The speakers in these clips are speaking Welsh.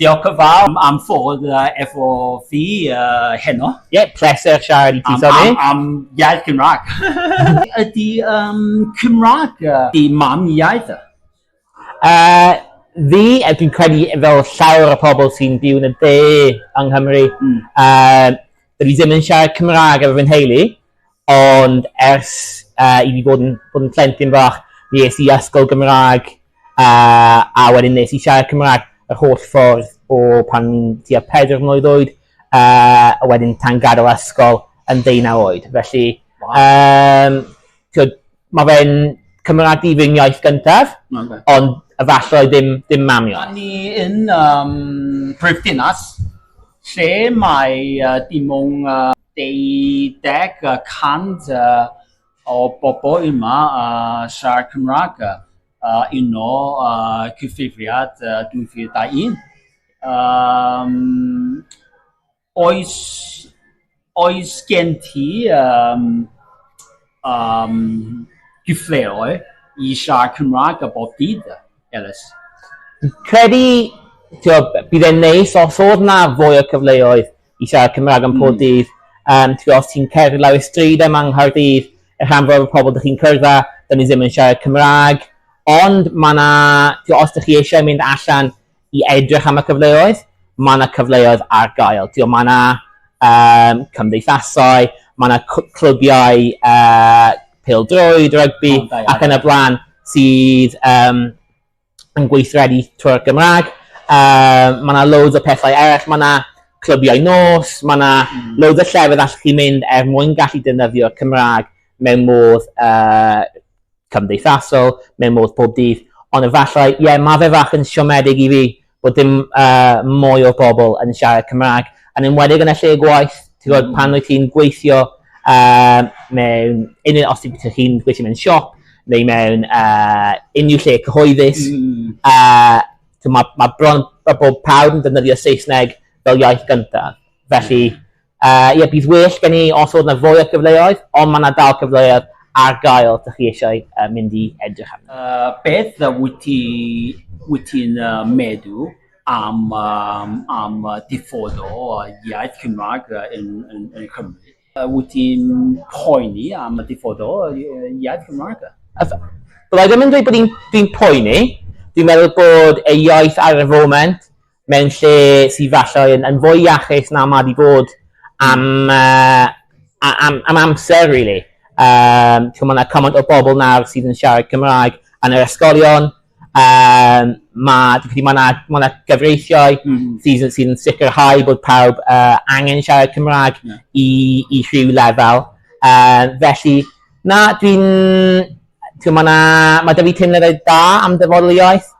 Diolch yn fawr am ffordd efo fi heno. Ie, pleser siarad i ti, Sonny. Am iaith Cymraeg. Ydy Cymraeg dy mam iaith? Fi, dwi'n credu fel llawer o pobl sy'n byw yn y de yng Nghymru, Dwi ddim yn siarad Cymraeg efo fy nheulu, ond ers uh, i fi bod yn, bod yn plentyn fach, mi es i ysgol Gymraeg uh, a wedyn nes i siarad Cymraeg yr holl ffordd o pan ni'n tua pedr mlynedd oed, uh, a wedyn tan gadael ysgol yn ddeunaw oed. Felly, um, Mae fe'n Cymraeg i fy ngiaith gyntaf, ond efallai ddim dim mam iaith. Dan ni yn um, brifddinas lle mae uh, dim ond uh, deuddeg y cant uh, o bobl yma uh, siarad Cymraeg uh, un o uh, cyfrifiad uh, 2001. Um, Oes, oes gen ti um, um, gyfleoedd i siarad Cymraeg a bob dydd, Elis? Credu, tio, bydd e'n neis os oedd na fwy o cyfleoedd i siarad Cymraeg am pob mm. dydd. Um, tio, os ti'n cerdded lawr y stryd yma yng Nghaerdydd, y rhan fawr o pobl ydych chi'n cyrda, dyn ni ddim yn siarad Cymraeg. Ond mae yna, os ydych chi eisiau mynd allan i edrych am y cyfleoedd, mae yna cyfleoedd ar gael. Tio, mae yna um, cymdeithasau, mae yna clybiau uh, pildroed, rygbi oh, ac yn y blaen sydd um, yn gweithredu trwy'r Gymraeg. Uh, mae yna loads o pethau eraill, mae yna clybiau nos, mae yna mm. loads o llefydd allwch chi mynd er mwyn gallu defnyddio'r Cymraeg mewn modd uh, cymdeithasol mewn modd pob dydd, ond efallai, ie, mae fe fach yn siomedig i fi bod dim uh, mwy o bobl yn siarad Cymraeg, yn enwedig yn y lle gwaith, ti'n gwybod, mm. pan wyt ti'n gweithio uh, mewn, unrhyw, os ti'n chi'n gweithio mewn siop, neu mewn uh, unrhyw lle cyhoeddus, mm. uh, mae ma bron mae bob pawb yn defnyddio Saesneg fel iaith gyntaf. Felly, Yy ie bydd well gen i os o'dd 'na fwy o cyfleoedd ond ma' 'na dal cyfleoedd ar gael dych chi eisiau yy mynd i edrych arnyn nhw. Yy beth wyt ti wyt ti'n yy meddwl am yym am yy diffodd o yy iaith Cymraeg yy yn yn yn Cymru? Yy wyt ti'n poeni am y diffodd o yy iaith Cymraeg? Yy fyddai ddim yn dweud bod i'n dwi'n poeni, dwi'n meddwl bod ei iaith ar y foment mewn lle sydd falle yn, yn fwy iachus na mae wedi bod am, uh, am, am amser, really. Um, mae yna cymaint o bobl nawr sydd yn siarad Cymraeg yn yr ysgolion. Um, mae yna ma, na, ma na gyfreithiau mm. Mm-hmm. sydd, sydd yn sicrhau bod pawb uh, angen siarad Cymraeg yeah. i, i rhyw lefel. Uh, felly, na, dwi'n... Mae yna... Mae da fi teimladau da am dyfodol iaith.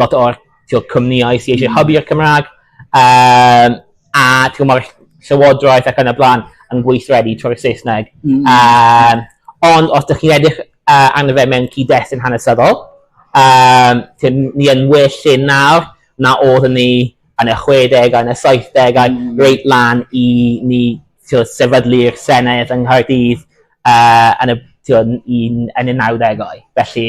lot o'r ti'o' cwmnïau sy eisiau hybu i'r Cymraeg, um, a ti'n mae'r llywodraeth ac yn y blaen yn gweithredu trwy'r Saesneg. Mm. Um, ond os ydych chi'n edrych uh, arno fe mewn cyd-destun hanesyddol, um, ni yn well lle nawr na oedd ni yn y 60au, yn y 70au, mm. reit lan i ni sefydlu'r Senedd yng Nghaerdydd uh, yn y, yn, yn y 90au. Felly,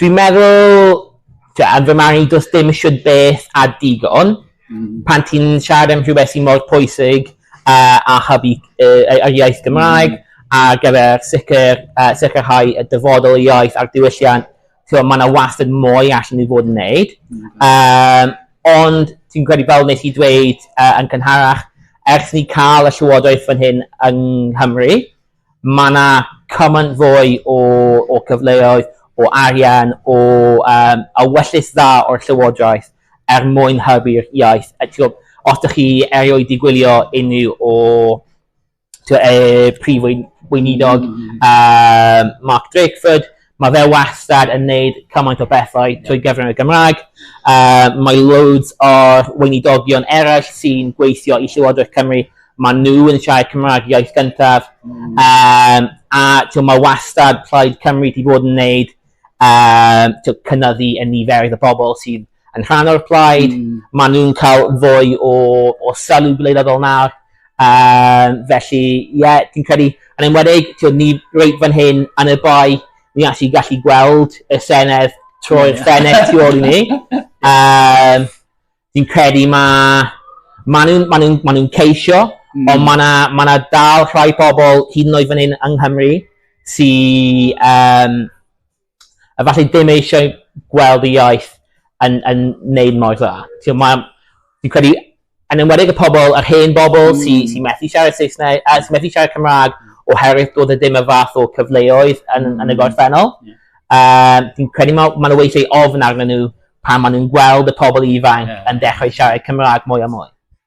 Dwi'n meddwl t'wod fy marn i do's dim shwd beth a digon pan ti'n siarad am rhywbeth sy mor pwysig a a hybu yy y yr iaith Gymraeg ar gyfer sicr yy sicrhau y dyfodol y iaith a'r diwylliant t'mo' ma' 'na wastad mwy allan i fod yn neud yym ond fi'n credu fel nes i dweud yy yn cynharach ers ni ca'l y llywodraeth fan hyn yng Nghymru Mae yna cymaint fwy o o gyfleoedd, o arian, o um, a wellus dda o'r Llywodraeth er mwyn hybu'r iaith. A, tigo, os ydych chi erioed wedi gwylio unrhyw o tigo, e, prif weinidog mm. um, Mark Drakeford, Mae fe wastad yn neud cymaint o bethau trwy gyfrwng y Gymraeg. Yy mae loads o'r weinidogion eraill sy'n gweithio i Llywodraeth Cymru, maen nhw yn siarad Cymraeg iaith gyntaf. Mm. Um, a ti'n mae wastad Plaid Cymru wedi bod yn neud um, cynyddu y niferoedd y bobl sydd yn rhan o'r plaid, mm. maen nhw'n cael fwy o, o sylw gwleidyddol nawr. Um, felly, ie, yeah, dwi'n credu, yn enwedig, ti'n ni reit fan hyn yn y bai, ni allu gallu gweld y Senedd troi'r yeah. Senedd tu ôl i ni. Um, dwi'n credu mae ma nhw'n ma nhw, ma nhw ceisio, mm. ond mae yna ma na dal rhai pobl hyd yn oed fan hyn yng Nghymru sy'n um, efallai ddim eisiau gweld y iaith yn, yn neud mor dda. Ti'n ma, fi'n credu, yn enwedig y pobl, yr hen bobl mm. sy'n sy methu siarad Saesneg, a sy'n methu siarad Cymraeg oherwydd bod e ddim y fath o cyfleoedd yn, mm. yn y mm. gorffennol. Yeah. Um, fi'n credu mae ma nhw weithiau ofn arnyn nhw pan maen nhw'n gweld y pobl ifanc yeah. yn dechrau siarad Cymraeg mwy a mwy.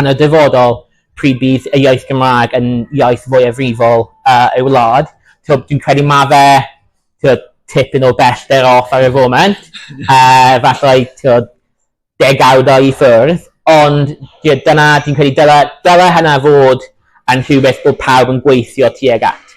yn y dyfodol pryd bydd y iaith Gymraeg yn iaith fwyafrifol uh, ei wlad. Tywed, dwi'n credu mae fe tywed, tipyn o bellter off ar y foment, uh, falle tywed, degawdau i ffwrdd, ond tywed, dyna, dwi'n credu, dyna, dyna hynna fod yn rhywbeth bod pawb yn gweithio tuag at.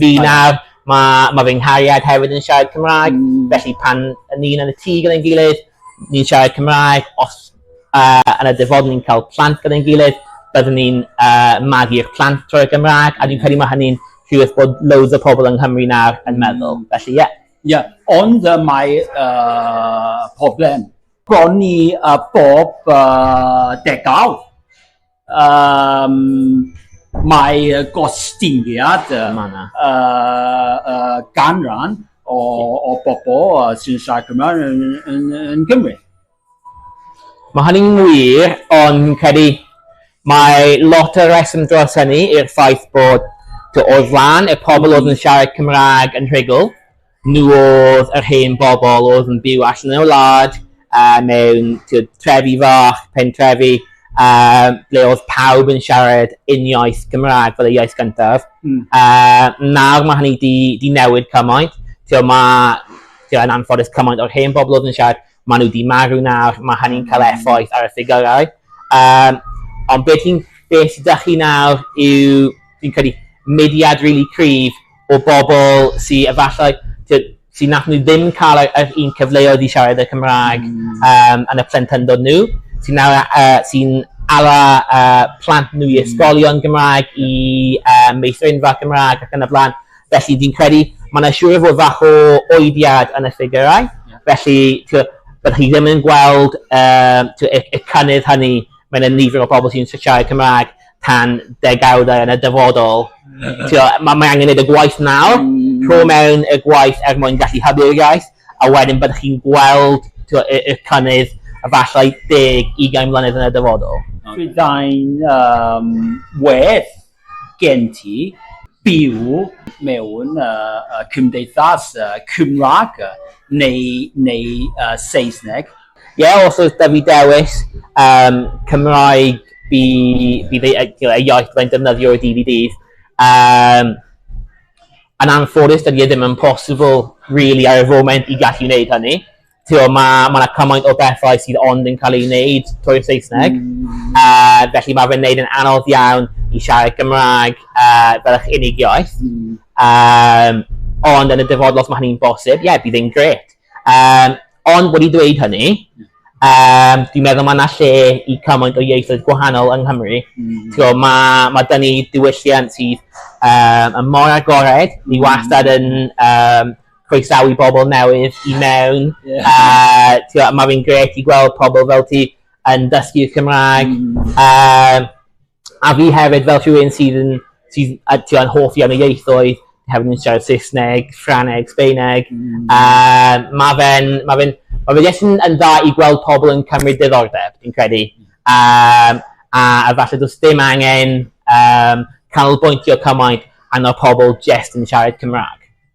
Fi nawr, mae ma fy nghariad hefyd yn siarad Cymraeg, mm. felly pan ni'n yn y tŷ gyda'n gilydd, ni'n siarad Cymraeg, os uh, yn y dyfod ni'n cael plant gyda'n gilydd, byddwn ni'n uh, magu'r plant trwy'r Gymraeg, a dwi'n credu mae hynny'n rhywbeth bod loads o pobl yng Nghymru nawr yn mm. meddwl. Felly, ie. Yeah. Ie, yeah. ond uh, mae uh, problem bron i uh, bob uh, degawd Um, mae gostyngiad um, uh, uh, ganran o, o bobl uh, sy'n siarad Cymraeg yn, yn, yn Gymru. Mae hynny'n wir, ond credu mae lot o reswm dros hynny i'r ffaith bod o ran y pobl oedd yn siarad Cymraeg yn rhugl, Nhw oedd yr hen bobl oedd yn byw allan yn y wlad, mewn trefi fach, pentrefi, ble oedd pawb yn siarad uniaith Gymraeg fel y iaith gyntaf. Nawr mae hynny 'di newid cymaint. Tibod, mae, yn anffodus, cymaint o'r hen bobl oedd yn siarad, maen nhw 'di marw nawr, mae hynny'n cael effaith ar y ffigyrau. Ond beth sydd 'da chi nawr yw, fi'n credu, mudiad rili cryf o bobl sy efallai t'od sy nathon nhw ddim ca'l y yr un cyfleoedd i siarad y Cymrâg yym yn y plentyndod nhw sy'n nawr a- yy sy'n ala yy plant nhw i ysgolion Gymrâg i yy meithrinfa Cymrâg ac yn y bla'n felly fi'n credu ma' 'na siŵr o fod fach o oediad yn y ffigyrau felly t'wo' bydde chi ddim yn gweld yym t'wo' y y cynnydd hynny ma' 'na nifer o bobl sy'n s- siarad Cymrâg tan degawdau yn y dyfodol. Tio, mae, mae angen gwneud y gwaith nawr, mm. rho mewn y gwaith er mwyn gallu hybu'r iaith, a wedyn byddwch chi'n gweld tio, y, y cynnydd efallai deg i gael mlynedd yn y dyfodol. Byddai'n um, werth gen ti byw mewn uh, cymdeithas uh, Cymraeg neu, neu uh, Saesneg Ie os oes 'da fi dewis yym Cymraeg fi fi fei- yy t'mo' y iaith fyddai'n defnyddio i Dee Vee Dees yym yn anffodus dydi e ddim yn posibl rili ar y foment i gallu wneud hynny. T'mo' ma' ma' 'na cymaint o bethau sydd ond yn ca'l eu wneud trwy'r Saesneg a felly ma' fe'n neud yn anodd iawn i siarad Cymrâg yy fel eich unig iaith yym ond yn y dyfodol os ma' hynny'n bosib ie bydd e'n grêt. Um, ond wedi dweud hynny, um, dwi'n meddwl mae yna lle i cymaint o ieithoedd gwahanol yng Nghymru. Mm. Tio, mae, mae dyn ni diwylliant sydd um, yn mor agored, ni mm. wastad yn um, croesawu bobl newydd i mewn. Yeah. Uh, tio, mae fi'n gret i gweld pobl fel ti yn dysgu Cymraeg. Mm. Um, A fi hefyd fel rhywun sydd yn sydd yy t'wod hoff iawn o ieithoedd hefyd yn siarad Saesneg, Ffrangeg, Sbaeneg yym ma' fe'n ma' fe'n ma' fe jyst yn yn dda i gweld pobol yn cymryd diddordeb fi'n credu yym a a falle do's dim angen yym canolbwyntio cymaint arno pobol jest yn siarad Cymra'g.